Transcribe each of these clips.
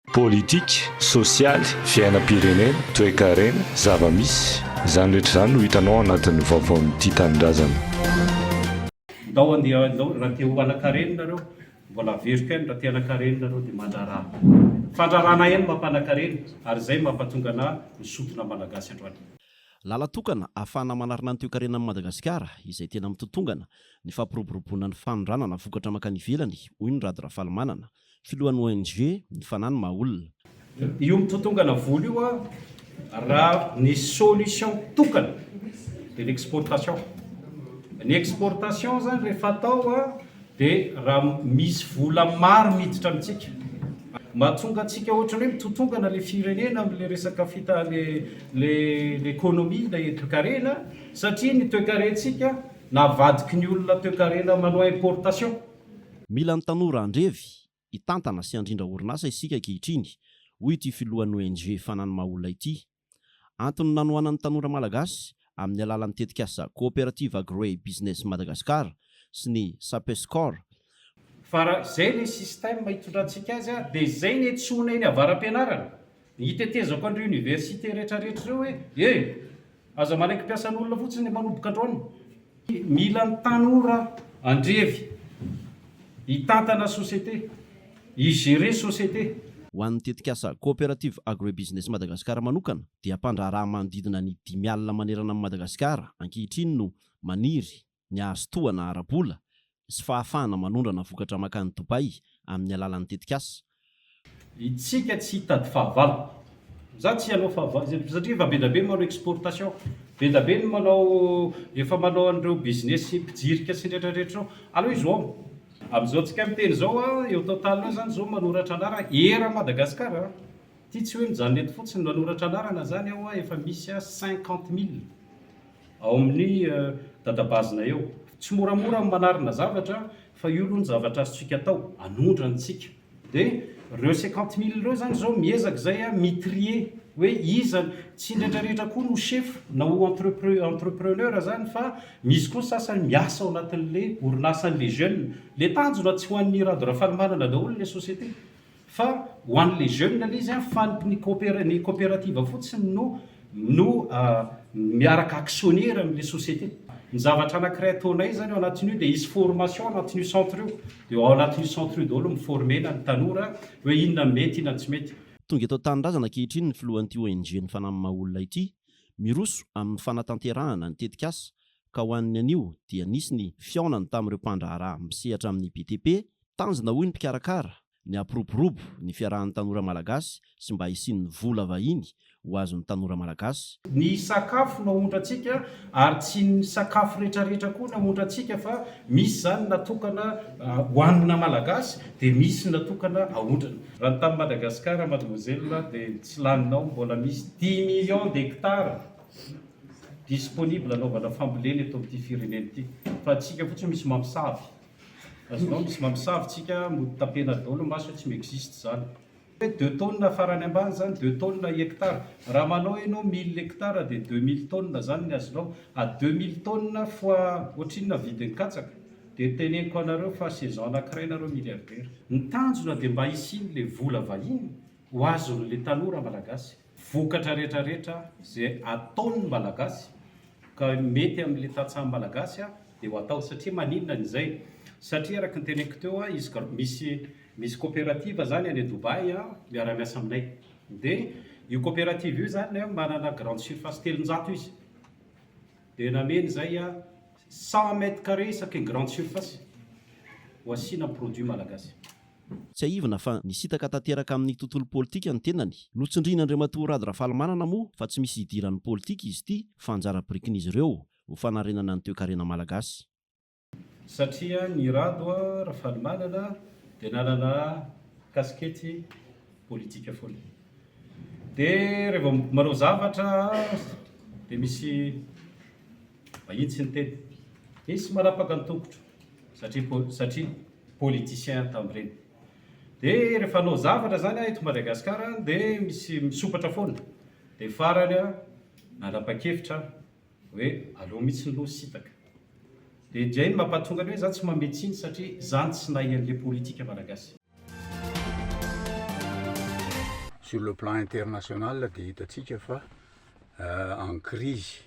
Politika, sosialy, fiainam-pirenena, toekarena, zava-misy. Izany rehetra izany no hitanao ao anatin'ny vaovaon'ny Tia Tanindrazana. Ndao andeha ndao raha te ho anakarenina nareo mbola averiko any raha te anakarenina nareo dia mandraraha fandrarana ihany mampanakarena ary izay mampatonga anah misotro na malagasy androany. Lalan-tokana ahafahana manarina ny toekarenan'i Madagasikara izay tena mitotongana ny fampiroboroboana ny fanondranana vokatra mankany ivelany, hoy ny Rado Rafalimanana, Filohan'ny ONG ny Fanahy no maha olona. Io mitotongana vola io raha ny solution tokana dia ny exportation. Ny exportation zany rehefa atao dia raha misy vola maro miditra amintsika. Mahatonga antsika ohatran'ny hoe mitotongana ilay firenena amin'ilay resaka fita- ilay economie, ilay toekarena satria ny toekarentsika navadiky ny olona toekarena manao importation. Mila ny tanora andrevy, hitantana sy handrindra orinasa isika ankehitriny, hoy ity filohan'ny ONG Fanan'ny maha olona ity. Antony nanohanan'ny tanora malagasy, amin'ny alalan'ny tetikasa Cooperative Agro-Ey Business Madagascar sy ny Sapescor, Fa raha izay ilay système itondrantsika azy dia izay ny etsy sy onay ny avara-pianarana. Hitetezako an'ireo universités rehetrarehetra ireo hoe e! aza manaiky mpiasan'olona fotsiny ny manoboka drone. Mila ny tanora andrevy hitantana société, hi-gérer société. Ho an'ny tetikasa Cooperative Agro-et-Business Madagascar manokana dia mpandraharaha manodidina ny dimy alina manerana an'i Madagasikara ankehitriny no maniry ny hahazo tohana ara-bola sy fahafahana manondrana vokatra mankany Dubaï amin'ny alalan'ny tetikasa. Itsika tsy hitady fahavalo. Za tsy hanao fahavalo izay satria efa bedabe ny manao exportation, bedabe ny manao efa manao an'ireo business mpijirika sy ny rehetra rehetra ireo. Aleo izy home. Amin'izao tsika miteny izao a, eo total eo zany zao manoratra anarana eran'i Madagascar a, ity tsy hoe mijanona eto fotsiny manoratra anarana zany aho a, efa misy a cinquante mille. ao amin'ny dadabazinay ao. Tsy moramora ny manarina zavatra fa io aloha ny zavatra azontsika atao, anondrana isika. Dia ireo cinquante mille ireo izany izao miezaka izay mi trier hoe iza, tsy indraindray rehetra koa no chef na ho entrepre entrepreneur izany fa misy koa ny sasany miasa ao anatin'ilay orinasa an'ilay jeune. Ilay tanjona tsy ho an'i Rado Rafalimanana daholo ilay société. Fa ho an'ny les jeunes anie izy an, fa ny ny coopérative fotsiny no no miaraka actionnaire amin'ilay société. Ny zavatra anankiray ataonay izany ao anatin'io dia hisy formation ao anatin'io centre io, dia ao anatin'io centre io daholo mi-former-na ny tanora hoe inona no mety, inona no tsy mety. Tonga eto an-tanindrazana ankehitriny ny filohan'ity ONG ny Fanahy Mamaha Olona ity, miroso amin'ny fanatanterahana ny tetikasa ka ho an'ny anio dia nisy ny fihaonany tamin'ireo mpandraharaha misehatra amin'ny BTP Tanjona hoy ny mpikarakara ny hampiroborobo ny fiarahan'ny tanora malagasy sy mba hisian'ny vola vahiny ho azon'ny tanora malagasy. Ny sakafo no aontra antsika ary tsy ny sakafo retraretra koa no aontra antsika fa misy zany natokana hoanina malagasy dia misy natokana aondrana. Raha ny tany Madagascar mademoiselle dia ny tsy laninao mbola misy dix millions d'hectares disponible anaovana fambolena eto amin'ity firenena ity fa antsika fotsiny misy mampisavy. Azonao misy mamosavy tsika mody tapena daholo ny maso hoe tsy mi-existe zany. Hoe deux tonnes farany ambany zany deux tonnes hectare. Raha manao enao mille hectare dia deux mille tonnes zany ny azonao. A deux mille tonnes fois ohatrinona vidin'ny katsaka? Dia teneniko anareo fa saison anakiray nareo milliardaire. Ny tanjona dia mba hisian'le vola vahiny ho azon'le tanora malagasy. vokatra rehetra rehetra izay ataon ny malagasy ka mety amin le tantsaha malagasy dia ho atao satria maninona ny izay satria araka ny teneniko teo izy ka misy misy cooperative izany any Dubaï miara miasa aminay dia io cooperative io izany manana grande surface telonjato izy dia nameno izay cent mètre carré isaky ny grande surface ho asiana produit malagasy Tsiahivina fa nisintaka tanteraka amin'ny tontolo politika ny tenany. Notsindrian'Andriamatoa Rado Rafalimanana moa fa tsy misy hidiran'ny politika izy ity fa anjara birikin'izy ireo ho fanarenana ny toekarena malagasy. Satria ny Rado Rafalimanana dia nanana kasikety politika foana. Dia raha vao manao zavatra dia misy vahiny tsy niteny. Nisy manapaka ny tongotro satria satria. politiciens tambireny de refa hanao zavatra zany eto Madagascar de misy misopatra foana de farany nanapakevitra aho oe aleo mitsy lo sitaka de ndray mapatonga ny oe za tsy mame tsiny satria za no tsy nahay anle politika malagasy. Sur le plan international dia hitatsika fa en crise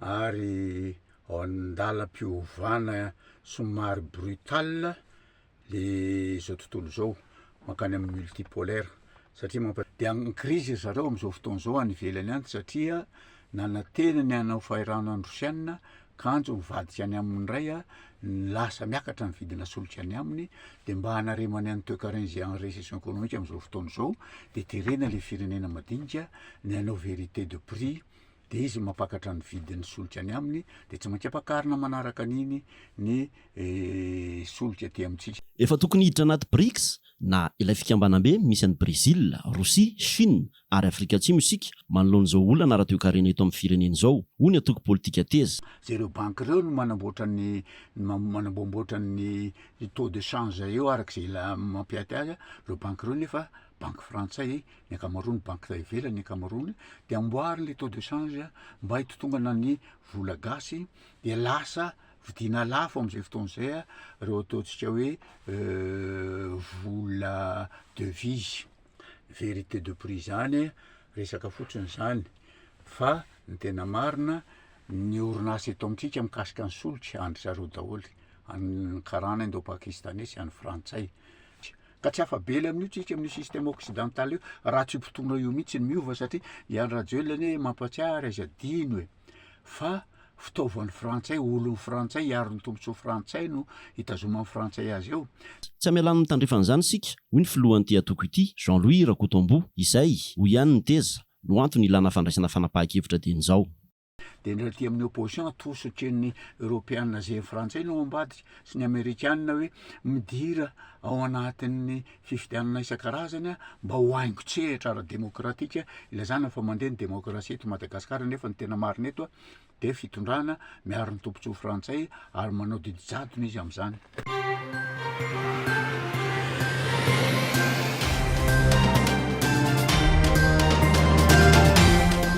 ary ao an-dalam-piovana somary brutal le zao tontolo zao mankany amin'ny multipolaire satria mampa- de amin'ny crise ry zareo amin'izao fotoana izao any ivelany any satria nanantena ny hanao fahirano an'i Rosiana kanjo mivadika any aminy indray ny lasa miakatra ny vidina solika any aminy de mba hanaremany an'i toekarena izay en recession économique amin'izao fotoana izao de terena le firenena madinika ny hanao vérité de prix dia izy mampakatra ny vidin'ny solika any aminy, dia tsy maintsy ampakarina manaraka an'iny ny solika aty amintsika. Efa tokony hiditra anaty Brics, na ilay fikambanambe misy an'i Brezila, Rosia, Shina ary Afrika Atsimo isika manoloana izao olana ara-toekarena eto amin'ny firenena izao, hoy ny antoko politika Teza. Izay ireo banky ireo no manamboatra ny manamboamboatra ny taux de change eo araka izay mampiaty azy, ireo banky ireo nefa banky frantsay ny ankamaroany, banky tay ivelany ny ankamaroany, dia amboary le taux de change mba hitotongana ny vola gasy, dia lasa vidiana lafo amin'izay fotoana izay ireo ataontsika hoe vola devise, vérité de prix izany, resaka fotsiny izany, fa ny tena marina ny orinasa eto amintsika mikasika ny solika an-dry zareo daholo, any karana indô-pakistaney sy any frantsay. Ka tsy afa-bela amin'io tsika amin'io système occidental io raha tsy potoana io mihitsy ny miova satria i Andry Rajoelina anie mampatsiahary aiza adino e! fa fitaovan'ny frantsay, olon'ny frantsay, hiaro ny tombontsoa frantsay no hitazoman'ny frantsay azy eo. Tsy hamela amin'ny tandrefana izany isika, hoy ny filohan'ity antoko ity, Jean Louis Rakotomboa, izay, hoy ihany ny teza, no antony ilana fandraisana fanapahan-kevitra dieny izao. dia ny aty amin'ny opposition atosy ohatran'ny eropeana zay frantsay no ambadika sy ny amerikana hoe midira ao anatin'ny fifidianana isan-karazany mba ho haingo tsehatra ara-demokratika ilazana fa mandeha ny demokrasia eto Madagasikara nefa ny tena marina eto dia fitondrana miaro ny tombontsoa frantsay ary manao didy jadona izy amin'izany